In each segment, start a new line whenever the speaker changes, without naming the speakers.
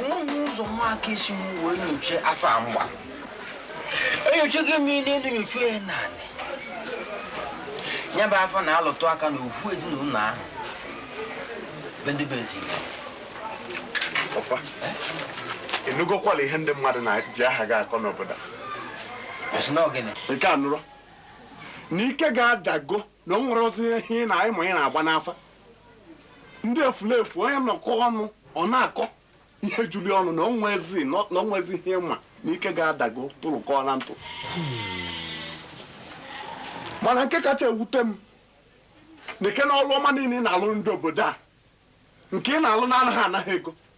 onweghị ụzọ nwa aka isi m wee nyochaa afa a m gba enyochaghị m ihe n'elu nyocha ya naanị ya bụ afa na-alụtụ aka na ofu ezinụlọ ahụ be ndị be ezi Igbo. papa ị nụgokwala ihe ndị mmadụ na-eji aha gị akọ n'obodo a. Ọ sị na ọ gịnị nke a nụrụ na ike gị adago na o nwerọzi ihe ị na-anyị ma ị na-agba n'afa ndị efulefu onye nọkọ ọnụ ọ na-akọ ihe julu ọnụ na onwezi na onwezi ihe ị ma na ike gị adago tụrụkọ na ntụ mana nke kacha ewute m na ike na ọrụ ọma niile ị na-alụ ndị obodo a nke ị na-alụ na anaghị anaghị ego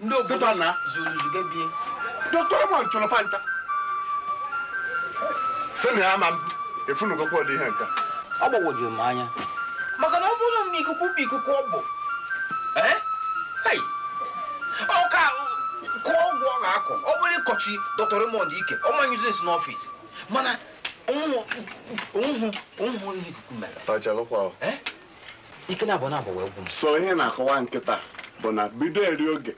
ndị obodo na zuru zuga be dọkịta ma nchọrọ fa ncha sị na ya ma mbụ ị fụnugokwa ụdị ihe nka ọ gbagwojuru m anya maka na ọ bụrụ na ikuku bụ ikuku ọ bụ ọka kọọ ọgwụ ọ ga-akọ ọ bụrụ ịkọchi dọkịta Raymond ike ọ ma nyụzi nsị n'ọfịs mana onwehụ onwehụ ihe ikuku mere ike na abụọ na abụọ wee gwụ m so ihe m na-akọwa kịta bụ na bido eri oge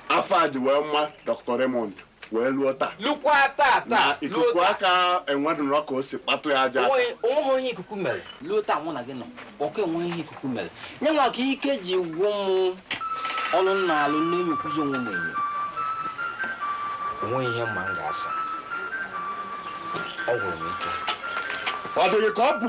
afụ e ji wee ma Dr. Raymond wee luo taa lukwa taa taa ikuku aka enwedụrọ ka o si kpatụ ya aka onweghị onye ikuku mere luo taa mụ na gị nọ ọkụ enweghị ihe ikuku mere nyanwa ka ike ji gwụ m ọrụ m na-alụ na-enyekwuzi onwe m enyo onweghị ihe m ma m ga-asa ọ gwụrụ m ike ọ dịghị ka ọ bụ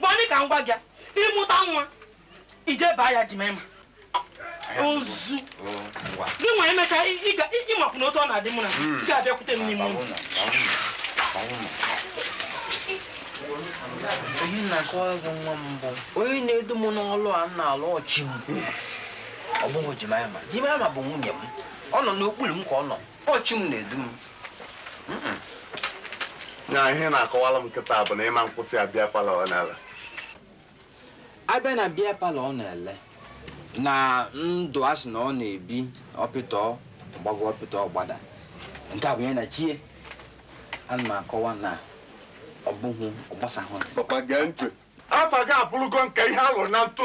ma ọ dị ka ngwa gị ị mụta nwa ị jee baa ya Jimaịma ozu gị nwa emecha ị makwụ na otu ọ na-adị mụ na hmm. gị abịakwute m n'ime ụlọ onye na-akọwa gị nwa mbụ onye na-edu m n'ọlụ a m na-alụ ọ chi m ọ bụghị Jimaịma Jimaịma bụ nwunye m ọ nọ n'okpuru m ka ọ nọ ọ chi m na-edu m na ihe ọ na-akọwara m kịta bụ na ị ma kwụsị abịa palọ ọ na-ele abịa na bịa palọ ọ na-ele na ndụ a sị na ọ na-ebi hospital gbago hospital gbada nke a bụ ya na chi e ana m akọwa na ọ bụghị ọ gbasahụ papa gee ntị afa gị abụrụgo nke ihe a lụrụ na ntụ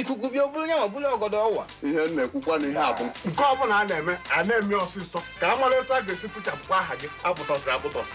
ikuku bịa o buru nyanwa buru ọgọdọ ọ wa ihe m na-ekwukwa na ihe a bụ nke ọbụla a na-eme a na-eme ọsịsọ ka a mara etu a ga-esi pụchapụkwa aha gị a kpụtọsịrị akpụtọsị